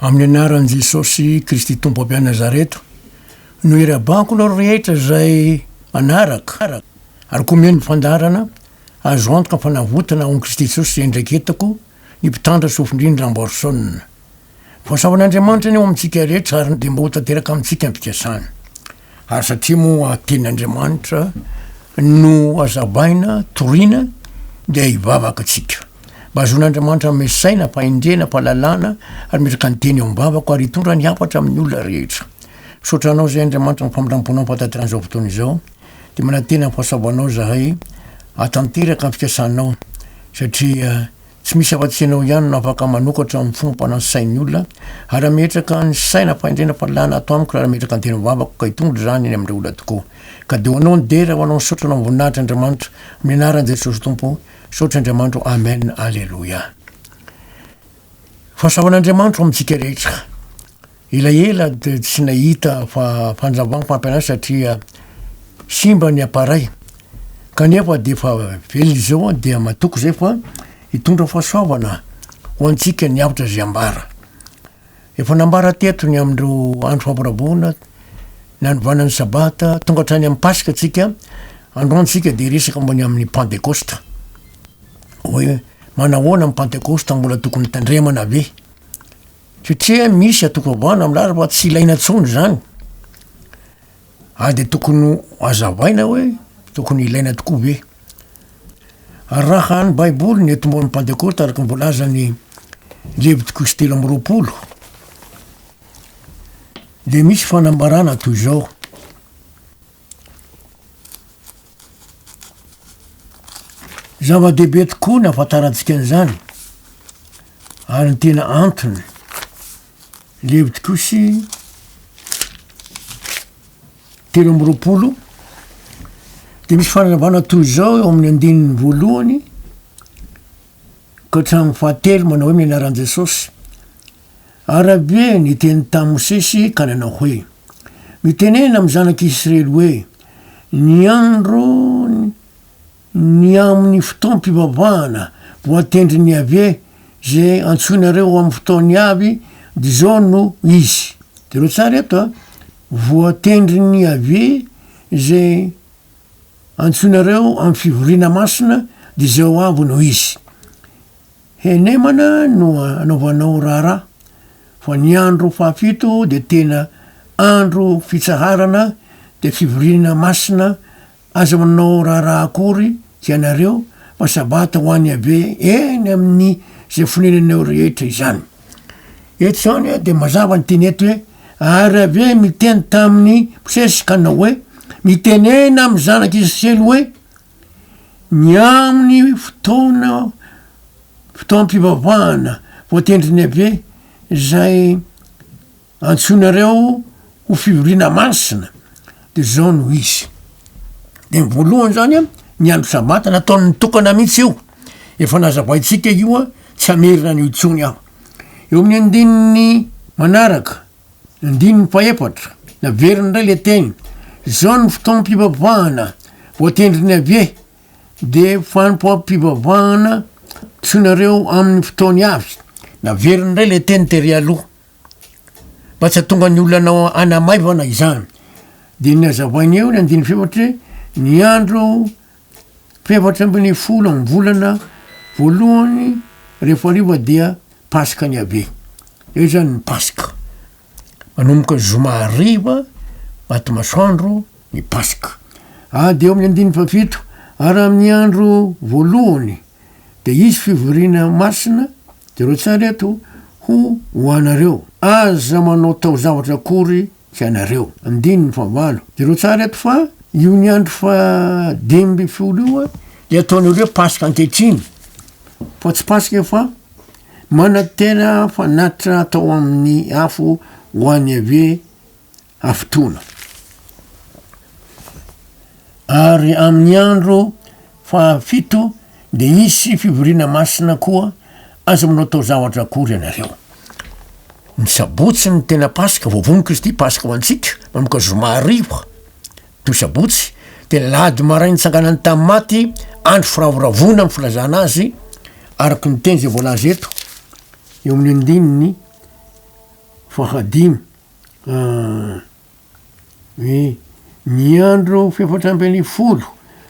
Amin'ny anaran'i Jesosy Kristy Tompo avy any Nazareto, nohirabanko nareo rehetra izay manaraka ary koa mihaino ny fandaharana, azo antoka fa navotana ao amin'i Kristy Jesosy iandraiketako, ny mpitandro sofin-drindrina Amborson. Voasavan'Andriamanitra ny ao amintsika rehetra ary dia mba ho tanteraka amintsika ny fikasany. Ary satria moa teny Andriamanitra no hazabaina, toriana, dia hivavaka tsika. Mba hazoan' Andriamanitra hanome saina, fahendrena, fahalalana, ary metraka ny teny eo am-bavako, ary hitondra ny hafatra amin'ny olona rehetra. Misaotra Anao izay Andriamanitra amin'ny famindram-ponao ampahataterana izao fotoana izao. Dia manantena ny fahasavanao izahay hahatanteraka ny fikasanao, satria. Tsy misy afa-tsy ianao ihany no afaka manokatra ny fomba mpanao sain'ny olona. Harametraka ny saina ampanendrena fa lana ato amiko raha harametraka ny teny vavako ka hitondra izany eny amin'ireo olona tokoa. Ka dia ho anao ny dera, ho anao ny saotra, ho anao ny voninahitra Andriamanitra, amin'ny anaran'i Jesosy Tompo, saotra Andriamanitro, Amen, Aleloia. Fahasoavan'Andriamanitro ho amintsika rehetra. Elaela dia tsy nahita fandravam-pampianarana satria simba ny appareil. Kanefa dia efa velona izao dia matoky izay fa hitondra fahasoavana ho antsika ny avotra izay ambara. Efa nambara teto ny amin'ireo andro fampiraboana, nanovana ny sabata, tonga hatrany amin'ny paska tsika, androany tsika dia hiresaka momba ny amin'ny pantekosta. Hoe manahoana ny pantekosta, mbola tokony hitandremana ve? Satria misy atoko ambana milaza fa tsy ilaina intsony zany, ary de tokony ho azavaina hoe tokony ilaina tokoa ve. Raha ny baiboly ny tomboan'ny pantekota araka ny voalazan'i Levitiko sy telo amby roapolo de misy fanambarana toy zao, Zava-dehibe tokoa ny hahafantarantsika an'izany, ary ny tena antony levo tokoa sy telo amby roapolo dia misy fanazavana toy izao eo amin'ny andininy voalohany ka hatramin'ny fahatelo manao hoe ny anaran'i Jesosy Arabe niteny tamin'i Mosesy ka nanao hoe, Mitenena amin'ny zanak'i Israely hoe, Ny andro ny amin'ny fotoam-pivavahana voatendrin'i Yaveh izay antsoinareo amin'ny fotoany avy dia izao no izy. Jereo tsara eto a. Voatendrin'i Yaveh izay antsoinareo amin'ny fivoriana masina dia izao avy no izy. Henemana no anaovanao raharaha fa ny andro fahafito dia tena andro fitsaharana dia fivoriana masina aza manao raharaha akory hianareo fa sabata ho an'i Yaveh eny amin'ny izay fonenanao rehetra izany. Eto izany dia mazava ny teny eto hoe ary Yaveh niteny tamin'i Mosesy ka nanao hoe mitenena amin'ny zanak'i Israely hoe Ny amin'ny fotoana fotoam-pivavahana voatendrin'i Yaveh izay antsoinareo ho fivoriana masina de zao no izy, de ny voalohany zany a ny andro sabata nataony tokana mihitsy io, efa nazavaintsika io a tsy hamerina an'io intsony aho, eo amin'ny andininy manaraka. Andininy fahefatra, Naveriny indray ilay teny, Izao no fotoam-pivavahana voatendrin'ny Yaveh, dia fanompoam-pivavahana antsoinareo amin'ny fotoany avy. Naveriny indray ilay teny tery aloha, mba tsy hahatonga ny olona hanamaivana izany. Dia ny hazavainy eo ny andininy fahefatra hoe, Ny andro Efatra ambin'ny folo amin'ny volana voalohany rehefa hariva dia Paskany Yaveh. Eo izany ny Paska. Manomboka ny zoma hariva maty masoandro ny Paska. Ady eo amin'ny andininy fahafito, ary amin'ny andro voalohany dia hisy fivoriana masina, jereo tsara eto, ho ho anareo. Aza manao taozavatra akory Tsy anareo. Andininy fahavalo. Jereo tsara eto fa io ny andro fahadimy ambin'ny folo io dia ataonareo hoe paska ankehitriny fa tsy paska io fa manantena fanatitra atao amin'ny afo ho an'i Yaveh hafotoana. Ary amin'ny andro Fahafito, dia hisy fivoriana masina koa, aza manao taozavatra akory ianareo. Ny sabotsy no tena Paska, voavono Kristy Paska ho antsika, manomboka zoma hariva toy sabotsy, dia ny lahady maraina nitsanganany tamin'ny maty, andro firavoravoana amin'ny filazana azy, araka ny teny izay voalaza eto eo amin'ny andininy fahadimy. Ny ny andro fefatra ambin'ny folo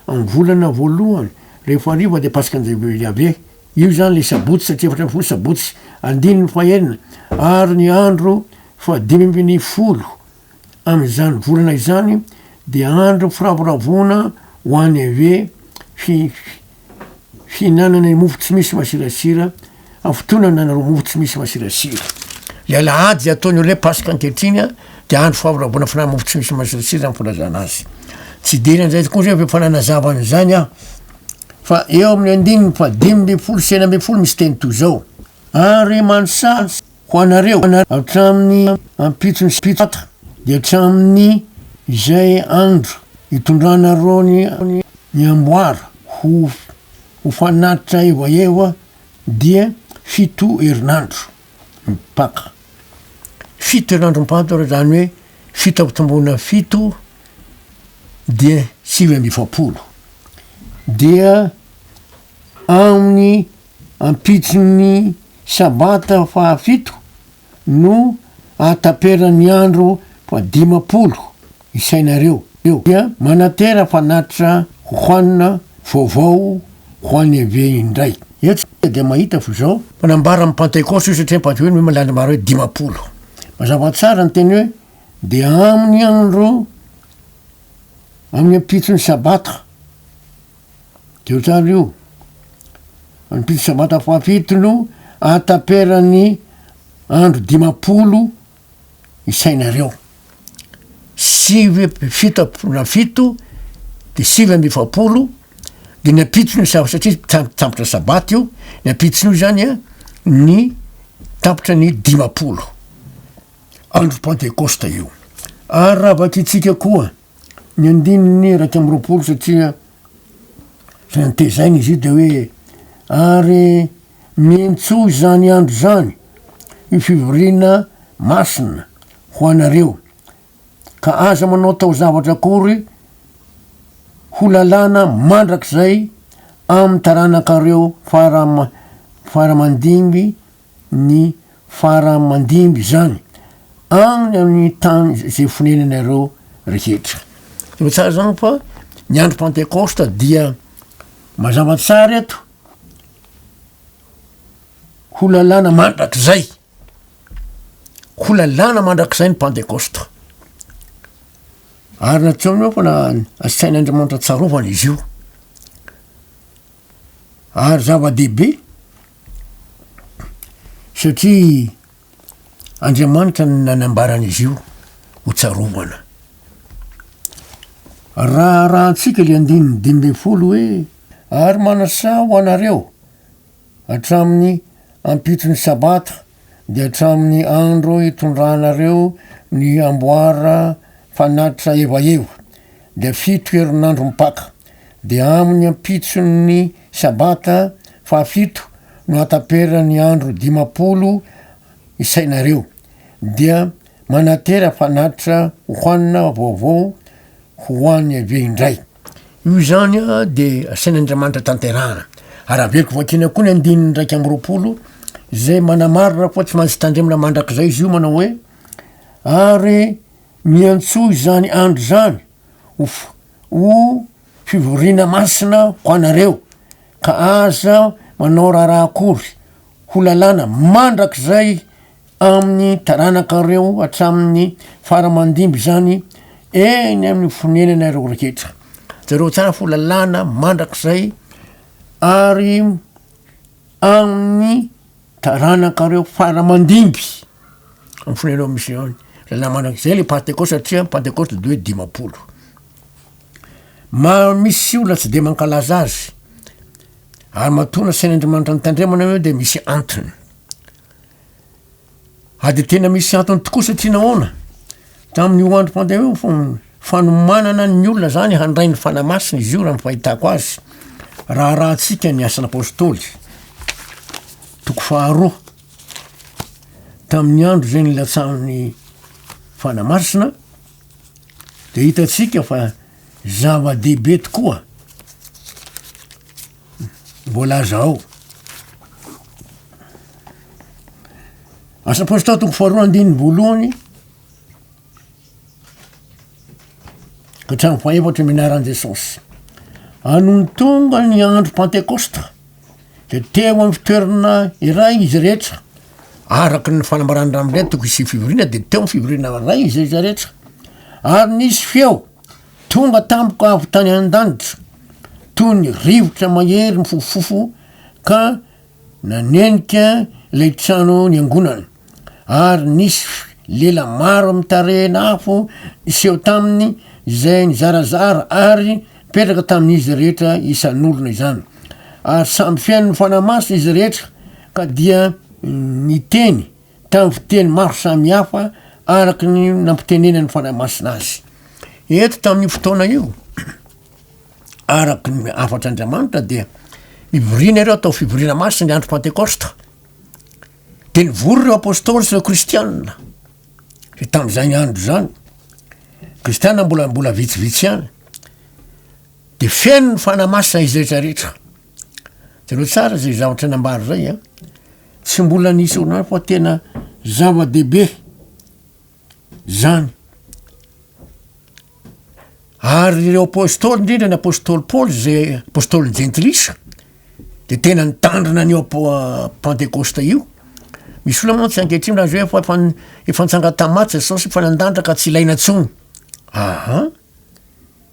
amin'ny volana voalohany rehefa hariva dia Paskan' Iahaveh. Io izany ilay sabotsy satria efatra ambin'ny folo sabotsy, andininy fahenina, ary ny andro fahadimy ambin'ny folo amin'izany volana izany dia andro firavoravoana ho an'Iaveh, fi-, Hihinanana ny mofo tsy misy masirasira amin'ny fotoana nanarao mofo tsy misy masirasira. Ny alahady izay ataon'ny olona hoe Paska ankehitriny dia andro fahavoravoana fihinanana mofo tsy misy masirasira amin'ny filazana azy. Tsy hidery an'izay kosa aho efa nanazava an'izany aho fa eo amin'ny andininy fahadimy ambin'ny folo sy enina ambin'ny folo misy teny toy izao, Ary manosaha ho anareo, hatramin'ny ampitson'ny Sabata, dia hatramin'ny izay andro itondranareo ny amboara ho ho fanatitra evaeva dia fito herinandro mipaka. Fito herinandro mipaka izany hoe fito ampitomboina fito dia sivy amby efapolo. Dia amin'ny Ampitson'ny Sabata fahafito no ahataperan'ny andro fahadimampolo isainareo eo, dia manatera fanatitra Juan vaovao ho any Evé indray. Eo tsika dia mahita fa izao. Manambara ny Pantekosta io satria ny Pantekosta io milaza ny andro hoe dimampolo. Mazava tsara ny teny hoe dia amin'ny andro, amin'ny ampitson'ny Sabata. De otrany io ny pitsy sabata fahafito no ahataperan'ny andro dimapolo isainareo sivy amby fito am-polo na fito de sivy amby efapolo de ny ampitson'io sa- satria ta- tampitra sabata io ny ampitson'io zany a ny tapitra ny dimapolo andro pentecosta io ary raha vakitsika koa Ny andininy iraika amby roapolo satria zay antezaina izy io de hoe ary miantsoa izany andro izany io fivoriana masina ho anareo ka aza manao taozavatra akory ho lalàna mandrakizay amin'ny taranakareo fara mandimby ny fara mandimby izany agny amin'ny tany izay fonenanareo rehetra. Hitanao tsara zany fa ny andro pentecoste dia mazava tsara eto ho lalàna mandrakizay, ho lalàna mandrakizay ny pentecoste. Ary nataony eo fa na- asain'Andriamanitra tsarovana izy io. Ary zava-dehibe. Satria Andriamanitra no nanambara an'izy io ho tsarovana. Raha arahantsika ilay andininy dimy ambin'ny folo hoe, Ary manasaha ho anareo, hatramin'ny ampitso ny Sabata, dia hatramin'ny andro itondranareo ny amboara fanatitra evaheva, dia fito herinandro mipaka. dia amin' ny ampitson' ny sabata fahafito no hataperana ny andro dimampolo isainareo, dia manatera fanatitra hohanina vaovao ho an' Iaveh indray. Io izany dia asain' Andriamanitra tanterahana. Araveko vakina koa ny andininy iraika amby roapolo, izay manamarina fa tsy maintsy tandremana mandrakizay izy io, manao hoe, Ary miantsoa izany andro izany, ho f- ho fivoriana masina ho anareo, ka aza manao raharaha akory ho lalàna mandrakizay amin'ny taranakareo hatramin'ny fara mandimby izany eny amin'ny fonenanareo rehetra. Jereo tsara fa ho lalàna mandrakizay ary amin'ny Taranakareo fara mandimby ny fonenao misy ao ny lalàna mandrakizay le pantekosta satria ny pantekosta dia hoe dimampolo. Maro misy olona tsy dia mankalaza azy ary matoa nasain'Andriamanitra nitandremana anareo dia misy antony. A dia tena misy antony tokoa satria nahoana? Tamin'io androm-pandehana io fo. Fanomanana ny olona izany handray ny Fanahy Masina izy io raha ny fahitako azy. Raharahantsika ny Asan' Apôstôly, toko faharoa. Tamin'ny andro izay nilatsahan'ny Fanahy Masina dia hitantsika fa zava-dehibe tokoa voalaza ao. Asa Apôstôly toko faharoa andininy voalohany. Hatrany fahefatry ny anaran'i Jesosy. Anony tonga ny andro Pantekosta, dia teo amin'ny fitoerana iray izy rehetra, araka ny fanambarany ramindray toko isy fivoriana, dia teo fivoriana ray izy rehetra rehetra. Ary nisy feo tonga tampoka avy tany an-danitra, toy ny rivotra mahery mifofofofo ka Nanenika ilay trano niangonana, ary nisy lela maro mitarehina afo niseho taminy izay nizarazara ary nipetraka tamin'izy rehetra isan'olona izany. Ary samy feno ny Fanahy Masina izy rehetra ka dia niteny tamin'ny fiteny maro samihafa araka ny nampitenenan'ny Fanahy Masina azy. Eto tamin'io fotoana io, araky ny hafatr' Andriamanitra dia hivoriana ireo atao fivoriana masina ny andro pantekosta de nivory ireo apôstôly sy ireo kristianina de tamin'izany andro zany kristianina mbola mbola vitsivitsy ihany de feno ny fanahy masina izy rehetra rehetra jereo tsara zay zavatra nambara zay a tsy mbola nisy orinasa fa tena zava-dehibe. zany ary ireo apôstôly indrindra ny apôstôly paoly zay apôstôly jentilisa de tena nitandrina an'io apoa- pantekôsta io misy olona moa tsy ankehitriny raha zay efa efan- efa nitsanga tamin'ny maty jesosy efa nandandra ka tsy ilaina intsony aa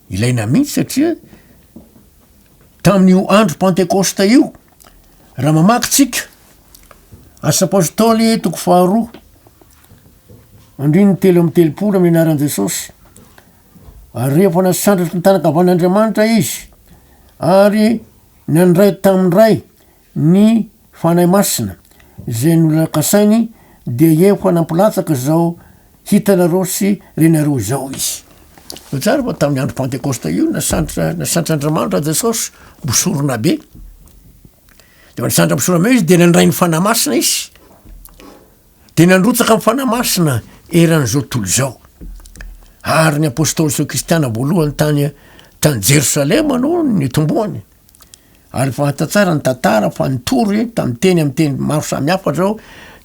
ilaina mihitsy satria tamin'io andro pantekôsta io raha mamaky tsika asa apôstôly toko faharoa Andininy telo amby telopolo amin'ny anaran'i Jesosy, ary rehefa nasandratry ny tanan-kavan'Andriamanitra izy, ary nandray tamin'ny Ray ny Fanahy Masina, izay nolakasainy, dia efa nampilatsaka izao hitanareo sy renareo izao izy. Tsara fa tamin'ny andro Pantekosta io, nasandra, nasandra Andriamanitra Jesosy, bosorona be. Dia nasandra bosorona be izy, dia nandray ny Fanahy Masina izy. Dia nandrotsaka ny Fanahy Masina eran'izao tontolo izao. Ary ny apôstôly sy ny kristiana voalohany tany tany Jerosalema no nitomboany. Ary fahita tsara ny tantara fa nitory tamin'ny teny amin'ny teny maro samihafa izao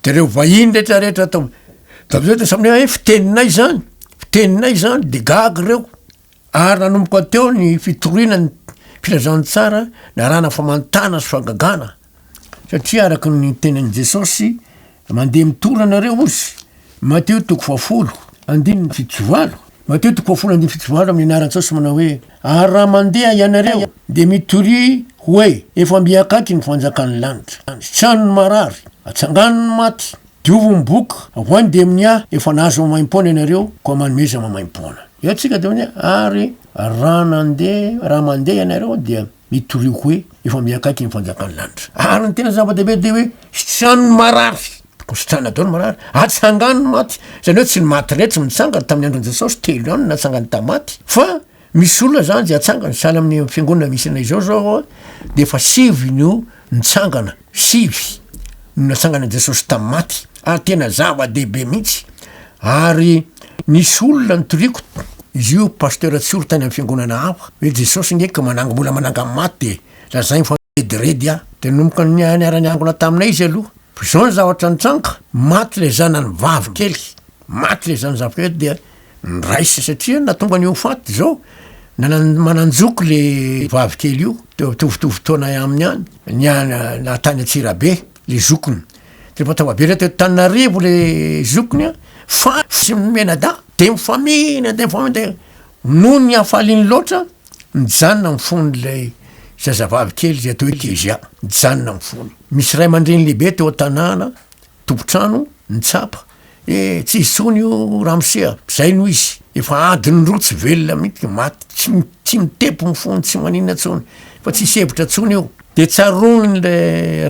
dia ireo vahiny rehetrarehetra tao tamin'izay dia samy hoe eh, fiteninay izany, fiteninay izany, dia gaga ireo. Ary nanomboka teo ny fitoriana ny filazantsara narana famantana sy fagagana. Satria araka ny tenin'i Jesosy, mandeha mitory ianareo ozy, Mateo toko fahafolo, andininy fito sy valo, Mateo toko fahafolo, andininy fito sy valo, amin'ny anaran'i Jesosy manao hoe, Ary raha mandeha ianareo, dia mitoria hoe, Efa mby akaiky ny fanjakan'ny lanitra. Sitrano ny marary, atsangano ny maty, diovo ny boka, avoahy ny demonia, efa nahazo maimaim-poana ianareo, koa manomeza maimaim-poana. Eo tsika dia hoe, ary raha nandeha, raha mandeha ianareo dia Mitorioko hoe efa mihankaiky ny fanjakan'ny lanitra. Ary ny tena zava-dehibe dia hoe sitrano ny marary, tokony sitrana daholo ny marary, atsangano ny maty, izany hoe tsy ny maty rehetra no nitsangana tamin'ny andron'i Jesosy, telo ihany no natsangany tamin'ny maty, fa misy olona izany izay atsangany, sahala amin'ny fiangonana misy anay izao izao dia efa sivy no Nitsangana, sivy, no natsangana Jesosy tamin'ny maty, ary tena zava-dehibe mihitsy, ary nisy olona nitoriako, izy io Pasteur Tsioro tany amin'ny fiangonana hafa, hoe Jesosy nge ka manangy mbola manangy amin'ny maty dia lazainy fa rediredy aho, dia nanomboka niara-niangona taminay izy aloha, fa izao ny zavatra nitranga, maty ilay zanany vavy kely, maty ilay zanany zafy kely dia. Niraisa satria nahatonga an'io faty izao nanan manan-joko le vavy kely io teo mitovitovy taona aminy ihany ny an na tany Antsirabe le zokiny de efa tonga be teto Tananarivo le zokiny an fa tsy mianadahy de mifamihina de mifamihina de noho ny hafaliany loatra nijanona ny fon'ilay zazavavy kely izay atao hoe Kezia nijanona ny fony misy ray aman-dreny lehibe teo an-tanàna Tompon-trano, ny tsapa, E, tsy izy tsony io ramose a! Zay no izy! Efa adiny roa tsy velona mihintsy ka maty, tsy tsy mitepo ny fony, tsy maninona tsony, fa tsy hisy hevitra tsony io! Dia tsaroany le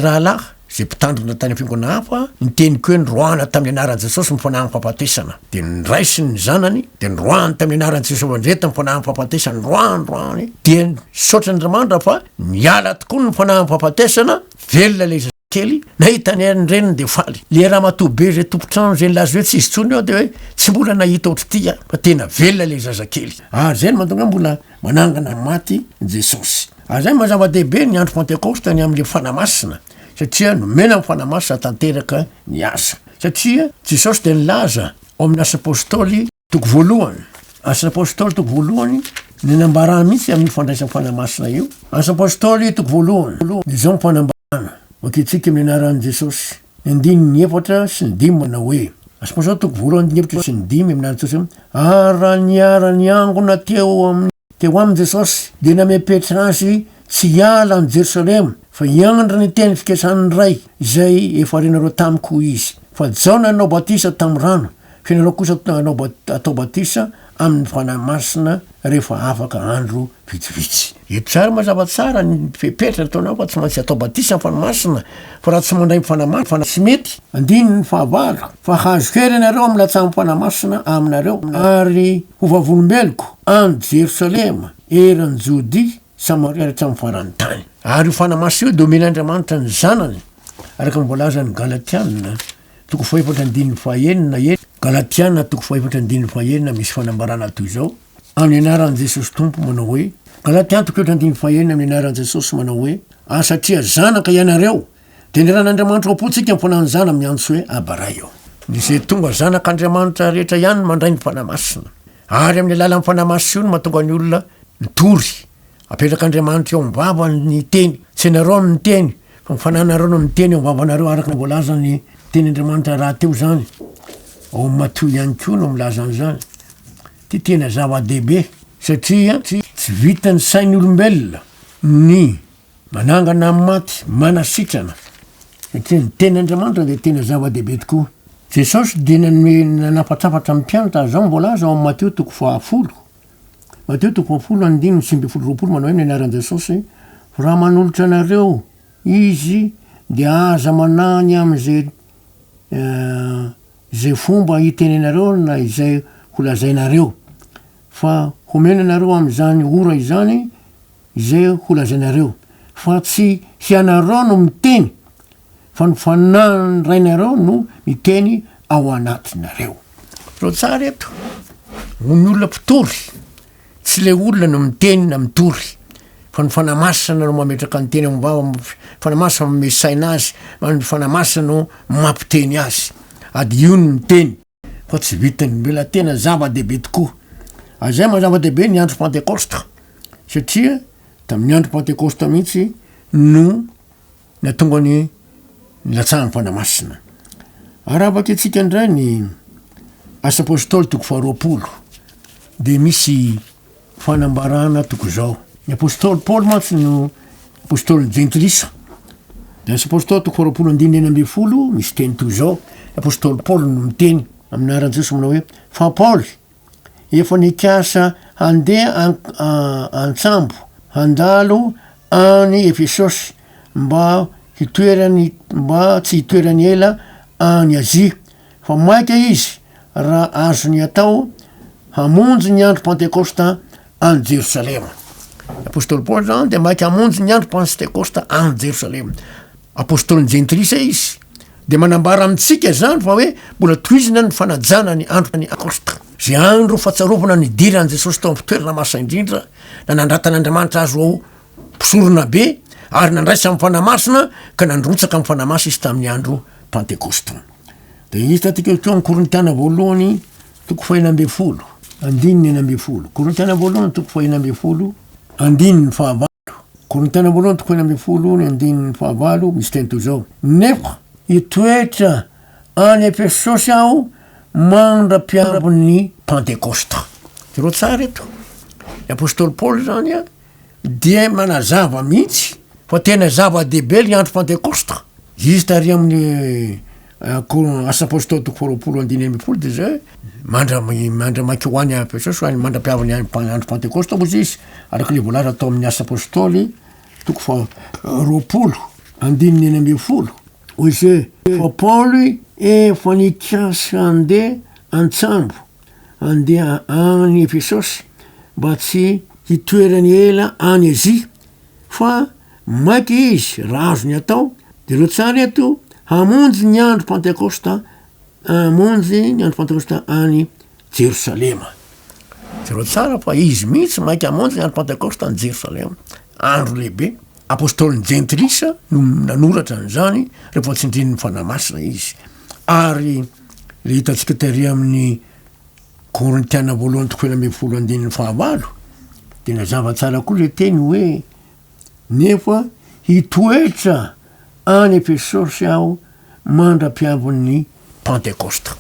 rahalahy, zay mpitandrina tany fiangonana hafa, ny teniko hoe noroahana tamin'ny anaran'i Jesosy ny fanahin'ny fahafatesana. Dia nraisiny ny zanany, dia noroahany tamin'ny anaran'i Jesosy Andriety ny fanahin'ny fahafatesana, noroahany, noroahany, dia, misaotra Andriamanitra fa niala tokoa ny fanahin'ny fahafatesana, velona le kely nahita ny an'ny reniny dia faly le ramatoa be izay tompontrano izay nilaza hoe tsy izy tsony eo dia hoe tsy mbola nahita ohatr'ity aho fa tena velona le zazakely ary zay no mantonga mbola manangana ny maty jesosy ary zay mazava-dehibe ny andro pentekosta ny amin'le fana masina satria nomena ny fana masina tanteraka ny asa satria jesosy dia nilaza ao amin'ny asa apostoly Toko voalohany, Asan'ny Apostoly toko voalohany, ny nambarany mihitsy amin'io fandraisam fanahy masina io. Asan'ny Apostoly toko voalohany, ny zao ny fanambarana, Mankitsika amin'ny anaran'i Jesosy. Ny andininy efatra sy ny dimy manao hoe, Asan'ny Apostoly toko voalohany andininy efatra sy ny dimy amin'ny anaran'i Jesosy, ary raha niara-niangona teo amin'ny. Teo aminy Jesosy dia namehy Petra azy tsy hiala any Jerosalema fa hiandry ny teny fiketrahan'ny Ray izay efa renareo tamiko hoy izy. Fa Jaona nanao batisa tamin'ny rano fa ianareo kosa hanao atao batisa amin'ny Fanahy Masina rehefa afaka andro vitsivitsy. Hetrary mazava tsara ny fepetra nataonao fa tsy maintsy atao batisa amin'ny Fanahy Masina fa raha tsy mandray ny Fanahy Masina tsy mety. Andininy fahavalo. Fa hahazo hery ianareo amin'ny latsaham-poana masina aminareo, ary ho vavolombeloko any Jerosalema, eran'i Jodia, Samaria ary hatramin'ny faran'ny tany. Ary io fanahy masina io dia omen'Andriamanitra ny Zanany, araka ny voalazan'ny Galatiana toko fahefatra andininy fahenina, eny, Galatiana toko fahefatra andininy fahenina, misy fanambarana toy izao, Amin'ny anaran'i Jesosy Tompo, manao hoe, Galatiana toko efatra andininy fahenina, Amin'ny anaran'i Jesosy, manao hoe, ary satria zanaka ianareo, Dengaran'Andriamanitra ao am-pontsika ny fananan'izany amin'ny antso hoe Aba Ray ô. Izay tonga zanak'Andriamanitra rehetra ihany mandray ny Fanahy Masina, ary amin'ny alalan'ny Fanahy Masina io no mahatonga ny olona mitory. Apetrak'Andriamanitra eo am-bavany ny Teny. Tsy ianareo no miteny, fa ny Fanahinareo no miteny ao am-bavanareo, araka ny voalazan'ny Teny Andriamanitra rahateo izany. Ao amin'ny Matio ihany koa no milaza an'izany. Ity tena zava-dehibe, satria tsy vitan'ny sain'ny olombelona ny. Manangana amin'ny maty, manasitrana, satria ny Tenin'Andriamanitra dia tena zava-dehibe tokoa. Jesosy dia nanome nanafatsafatra ny mpianatra azy izao no voalaza ao amin'ny Mateo toko fahafolo. Mateo toko fahafolo andininy sivy ambin'ny folo roapolo manao hoe ny anaran'i Jesosy, Fa raha manolotra anareo Izy dia aza manahy ny amin'izay izay fomba hitenenareo na izay holazainareo, fa homena anareo amin'izany ora izany, Izay holazainareo, fa tsy hianareo no miteny, fa ny Fanahin'ny Rainareo no miteny ao anatinareo. Tro tsara eto, ho ny olona mpitory, tsy ilay olona no miteny na mitory, fa ny Fanahy Masina no mametraka ny teny ao am-bavany, ny Fanahy Masina manome saina azy, ary ny Fanahy Masina no mampiteny azy. Ady io ny miteny. fa tsy vitan'ny mivela-tena ny zava-dehibe tokoa. Azay maha zava-dehibe ny andro Pantekosta, satria tamin'ny andro Pantekosta mihitsy no natonga ny nilatsahan'ny Fanahy Masina. Ary avakintsika indray ny Asa Apôstôly toko faharoapolo, dia misy fanambarana tokoa izao. Ny apostoly Paoly mantsy no apostoly jentilisa. Ds Apostol toko faharoapolo andininy enina ambin'ny folo misy teny toy izao, ny apostoly Paoly no miteny amin'ny anaran'i Jesosy manao hoe, Fa Paoly, efa nikasa handeha an, an-tsambo handalo any Efesosy mba hitoerany, mba tsy hitoerany ela any Azia, fa maika izy raha azony atao, hamonjy ny andro Pantekosta any Jerosalema. Apostoly Paoly izany dia maika hamonjy ny andro Pantekosta any Jerosalema. Apostolin'ny Jentilisa izy. Dia manambara amintsika izany fa hoe mbola tohizina ny fanajana ny andro Pantekosta. Izay andro fatsarovana ny diran'i Jesosy tao amin'ny toerana masina indrindra, na nandratan'Andriamanitra azy ho mpisorona be, ary nandraisany fanahy masina ka nandrotsaka ny fanahy masina izy tamin'ny andro Pantekosta. Dia hita ity koa ny Korintiana voalohany toko fahina ambin'ny folo, andininy enina ambin'ny folo. Korintiana voalohany toko fahina ambin'ny folo, andininy fahavalo. Korintiana voalohany toko fahina ambin'ny folo, ny andininy fahavalo, misy teny toy izao. Nefa hitoetra any Efesosy aho mandra-piambon'ny Pantekosta. Jereo tsara eto. Ny apostoly Paoly izany dia manazava mihitsy fa tena zava-dehibe ny andro pantekosta izy tary amin'ny eh, asa apôstôly toko faharoapolo andiny amby folo dia zay mandramaiky ho any jesosy any mandra-piavany andro pantekosta ozy izy araka le voalaza atao amin'ny asa apôstôly toko fa roapolo andininy eny amby folo oze fa paoly efa nikasa andeha antsambo Andeha any Efesosy mba tsy hitoerany ela any Azia, fa maika izy raha azony atao, dia ireo tsara eto hamonjy ny andro Pantekosta, hamonjy ny andro Pantekosta any Jerosalema. Jereo tsara fa izy mihitsy maika hamonjy ny andro Pantekosta any Jerosalema, andro lehibe. Apôstôlin'ny Jentilisa no nanoratra an'izany rehefa tsindrin'ny Fanahy Masina izy. Ary Ilay hitantsika tery amin'ny Korintiana voalohany toko enina ambin'ny folo andininy fahavalo dia nazava tsara koa ilay teny hoe nefa hitoetra any Efesosy aho mandra-piavin'ny Pantekosta.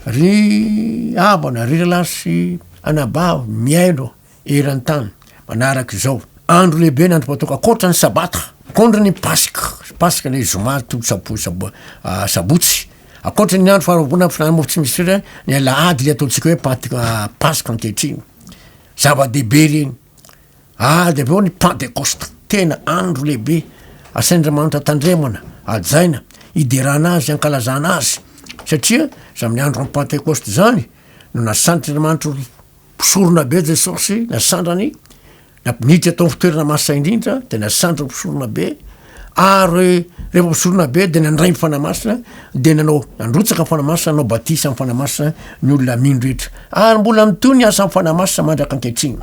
Ry havana, ry rahalahy sy anabavy mihaino, Eran-tany, manaraka izao, andro lehibe na andro matoka ankoatra ny Sabata, akondro ny Paska, Paska ilay Zoma toko sabo, sabo, ah, Sabotsy, ankoatra ny andro faharoabona fihinanana mofo tsy misy sira, ny Alahady ilay ataontsika hoe Pant- ah, Paska ankehitriny. Zava-dehibe ireny. Ah, dia avy eo ny Pantekosta, tena andro lehibe, asain'Andriamanitra tandremana, hajaina, hiderana azy, hankalazana azy, satria izy amin'ny andron'ny Pantekosta izany no nasantr'Andriamanitra ho, Mpisorona be Jesosy, nasandrany, niditra tao amin'ny fitoerana masina indrindra, dia nasandry ny mpisorona be, ary rehefa mpisorona be dia nandray ny fanahy masina, dia nanao nandrotsaka ny fanahy masina, nanao batisa amin'ny fanahy masina ny olona mino rehetra. Ary mbola mitohy ny asan'ny fanahy masina mandraka ankehitriny.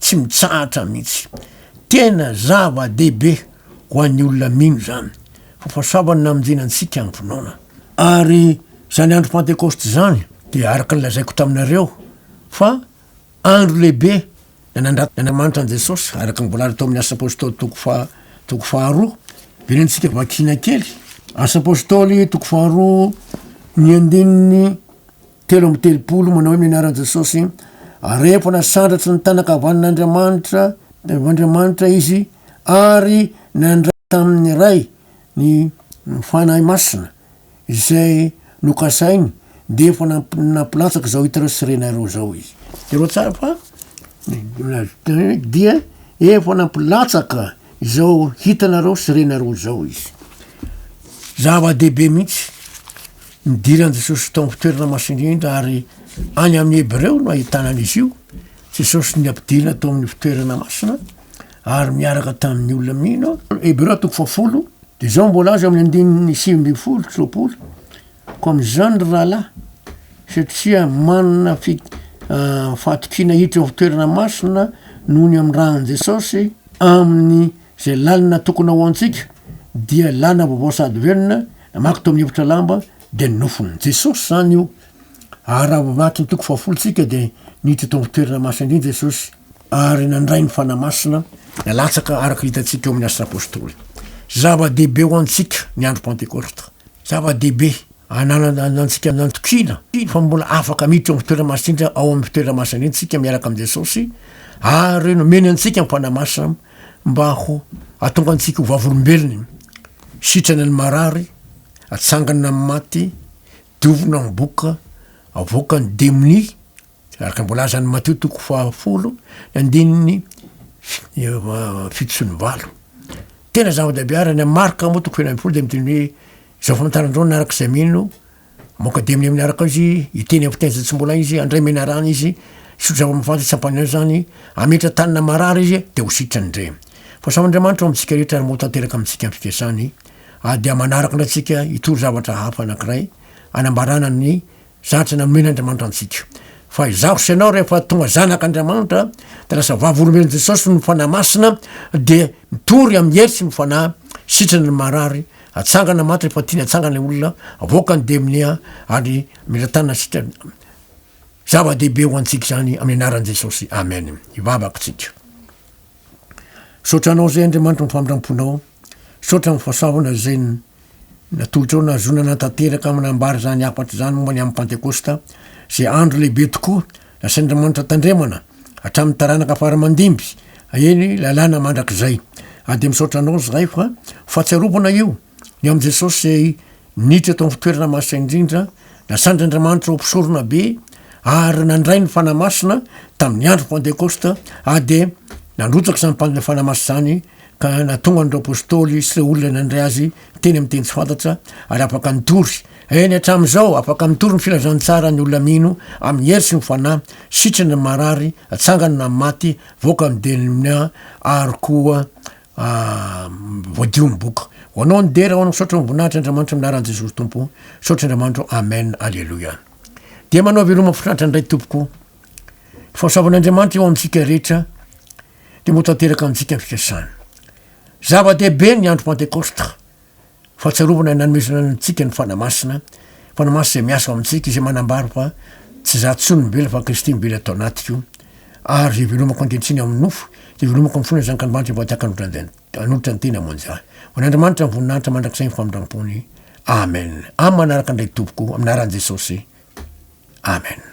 Tsy mitsahatra mihitsy. Tena zava-dehibe ho an'ny olona mino izany. Fahasoavana namonjena antsika amin'ny finoana. Ary izany andro Pantekosta izany dia araka ny lazaiko taminareo fa andro lehibe nanandratan' Andriamanitra an'i Jesosy, araka ny voalaza tao amin'ny Asa Apôstôly toko faha toko faharoa. Verentsika vakina kely Asa Apôstôly toko faharoa ny andininy telo amby telopolo manao hoe mianara an'i Jesosy ary rehefa nasandratry ny tanan' kavanin' Andriamanitra Andriamanitra izy ary nandray tamin'ny Ray Ny Fanahy Masina izay nokasainy dia efa nampilatsaka izao hitareo sy renareo izao izy. Jereo tsara fa dia efa nampilatsaka izao hitanareo sy renareo izao izy. Zava-dehibe mihitsy nidiran'i Jesosy tao amin'ny fitoerana masina indrindra ary any amin'ny Hebreo no ahitana an'izy io. Jesosy nampidirina tao amin'ny fitoerana masina. ary miaraka tamin'ny olona mino. Hebreo toko fahafolo, dia izao mbola azo amin'ny andininy sivy ambin'ny folo sy roapolo. Ko amin'izany ry rahalahy, satria manana fi- ah, fahatokiana hiditra ao toerana masina noho ny amin'ny ran'i Jesosy amin'ny izay lalina tokony ho antsika, dia lalina vaovao sady velona, namaky tao amin'ny efitra lamba, dia ny nofon'i Jesosy izany io. Ary raha vao vaky ny toko fahafolo tsika dia niditra tao amin'ny toerana masina indrindra Jesosy. ary nandray ny Fanahy Masina nalatsaka araka hitantsika eo amin'ny Asa Apôstôly. Zava-dehibe ho antsika ny andro Pantekôsta. Zava-dehibe ananana antsika nantokiana fa mbola afaka miditra amin'ny fitoerana masinja ao amin'ny fitoerana masina iny tsika miaraka amin'i Jesôsy ary nomena antsika ny Fanahy Masina mba ho atonga antsika ho vavolombelony sitrana ny marary atsangana amin'ny maty dovina miboka avoaka ny demonia Araka ny voalazan'i Matio toko fahafolo ny andininy fito sy ny valo. Tena zava-dehibe ary any Marka moa toko feno ambin'ny folo dia miteny hoe izao famantaran-droana araka izay mino moka dia amin'ny amin'ny araka ao izy hiteny amin'ny fiteny izay tsy mbola izy handray menarana izy hisotro zava-mifantoka tsy hampaniry azy izany hametra tany na marary izy dia ho sitrany indray. Fahasaho Andriamanitra ao amintsika rehetra ary moa tanteraka amintsika ny fikasany ary dia manaraka indray antsika hitory zavatra hafa anankiray hanambarana ny Zatra nomen'Andriamanitra antsika. Fa izaho sy ianao rehefa tonga zanak'Andriamanitra, dia lasa vavolombelon'i Jesosy ny Fanahy Masina, dia mitory amin'ny hery sy ny Fanahy, sitrana ny marary, atsangana maty rehefa tiany hatsangana ilay olona, avoaka ny demonia, ary mila tanana sitrana. Zava-dehibe ho antsika izany amin'ny anaran'i Jesosy. Amen. Hivavaka isika. Misaotra anao izay Andriamanitra ny famindramponao. Misaotra amin'ny fahasoavana izay natolotrao nahazoana hanatanteraka manambara izany hafatra izany momba ny amin'ny Pantekosta, izay andro lehibe tokoa nasain'Andriamanitra tandremana hatramin'ny taranaka fara aman-dimby, eny, lalàna mandrakizay. Ary dia misaotra Anao izahay fa ho fahatsiarovana io, ny amin'i Jesosy izay niditra tao amin'ny fitoerana masina indrindra, nasandr'Andriamanitra ho mpisorona be, ary nandray ny Fanahy Masina tamin'ny andron'ny Pantekosta, ary dia nandrotsaka izany Fanahy Masina izany, ka nahatonga an'ireo apostoly sy ireo olona nandray azy teny amin'ny teny tsy fantatra ary afaka nitory. Eny hatramin'izao, afaka mitory ny filazantsara ny olona mino amin'ny hery sy ny Fanahy, sitrana ny marary, atsangana na amin'ny maty, voaka amin'ny demnia ary koa voadio ny boky. Ho anao ny dera, ho anao misaotra voninahitra Andriamanitro amin'ny anaran'i Jesosy Tompo. Misaotra Andriamanitro. Amen. Aleloia. Dia manao veloma mafinaritra indray tompoko. Fahasoavan'Andriamanitra eo amintsika rehetra. dia ho tanteraka amintsika ny fikasany. Zava-dehibe ny andro Pantekôsta, fahatsiarovana nanomezana antsika ny Fanahy Masina, Fanahy Masina izay miasa ao amintsika, izay manambara fa tsy izaho intsony no mivela fa Kristy mively ato anatiko, ary izay velomako ankehitriny ao amin'ny nofo, dia velomako amin'ny fon'ny Zanak'Andriamanitra efa tahaka hanolotra ny tena ho an'izah. Ho an'Andriamanitra ny voninahitra mandrakizay ny famindram-pony. Amen. Amin'ny manaraka indray tompoko, amin'ny anaran'i Jesosy. Amen.